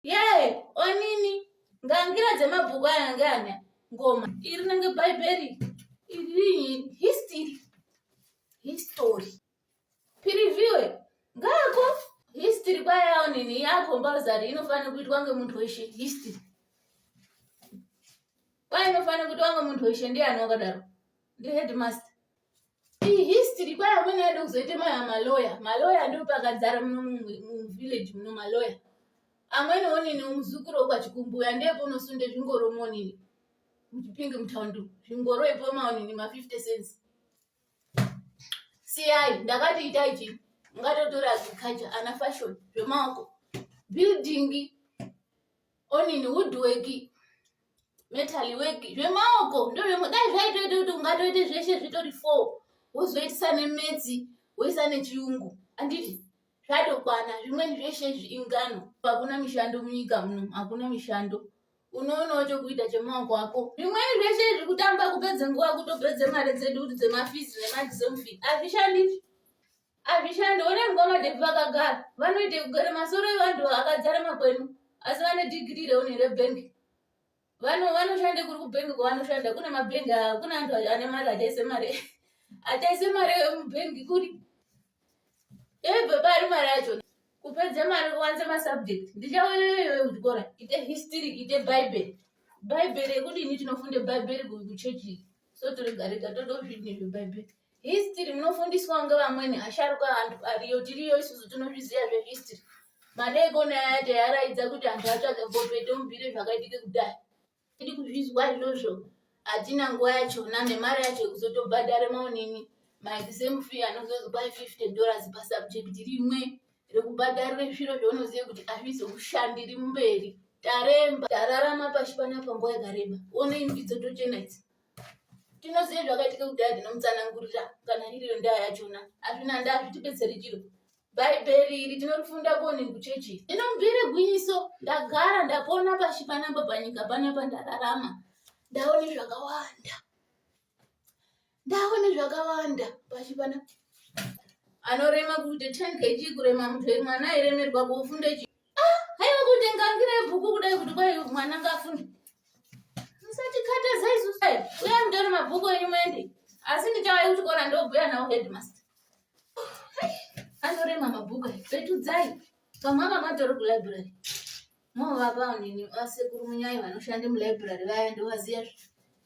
yee onini ngangira dzemabhuku aya ange ane ngoma iri nenge bhaibheri iri history history piriviwe ngako history kwayawo nini yako mbazari inofanira kuitwa ngemuntu weshe history kwainofanira kuitwa ngemuntu weshe ndiani wakadaro ndiheadmaster history kwai amweni aida kuzoita maya maloya maloya ndopakadzara muno muvillage muno maloya amweni onini muzukuru wekwachikumbuya ndepo unosunde zvingoro monini muchipinge mutaundi zvingoro ipo maonini ma50 cents siyai ndakati itai chi ungatotora agriculture ana fashion zvemaoko building onini woodworking metal work zvemaoko ndozvemudai zvaitoita kuti ungatoite zveshe zvitori four wozoitisa nemedzi woisa nechiyungu anditi zvatokwana zvimweni zveshe izvi ingano hakuna mishando munyika muno hakuna mishando unoonawo chokuita chemaoko ako zvimweni zveshe izvi kutamba kupedze nguva kutopedze mari dzedu kuti dzemafizi nemadzisomfi hazvishandi Hazvishande, honai mukoma Devi vakagara, vanoita kugara masoro evanhu vakadzara makwenu, asi vane dhigiri reone rebhengi. Vano vanoshande kuri kubhengi kwavanoshanda, kune mabhengi aya, kune anhu ane mari achaise mari achaise mari yemubhengi kuri yobva pari mari yacho kupedza mari kuwanza masubject ndichaoyoyoyo kuchikora ite history ite bhaibheri bhaibheri yekudini tinofunda bhaibheri kuchechi so toregarega toda kuzvidini zvebhaibheri History munofundiswa kunge vamweni asharuka antu ariyo tiriyo isusu tinozviziva zvehistory. Madeekoni aya taiaraidza kuti antu atsvage gope tomubvire zvakaitike kudai. Tiri kuzvizwa izvozvo hatina nguva yachona nemari yacho yekuzotobhadhara maonini maexam fee anozonzi kwai 50 dollars pasubject rimwe rekubhadharire zviro zvaunoziva kuti hazvizokushandiri mberi. Taremba, tararama pashi panapa nguva yakareba. Onei mbidzo tochena idzi. tinoziva zvakaitika kudhaya ndinomutsanangurira kana iriyo ndaa yachona azvina ndaa zvitibetseri chiro bhaibheri iri tinorifunda koni kuchechi inobvire gwinyiso ndagara ndapona pashi panapa panyika panapa ndararama ndaone zvakawanda ndaone zvakawanda pashi panapa anorema kuti ten kg kurema mutwe mwana airemerwa kufunda Ah, haiwa kuti ngangira yebhuku kudai kuti kwai mwana ngafunde. Musachikatadza isu sai. Uya mutore mabhuku enyu muende. Asi ndichauya kuchikora ndobhuya nawo headmaster. Anorema mabhuku aya. Petudzai. Pamwaka matori kulibrary. Movapa nini vasekuru munyai vanoshanda mulibrary vaya ndovaziya zve.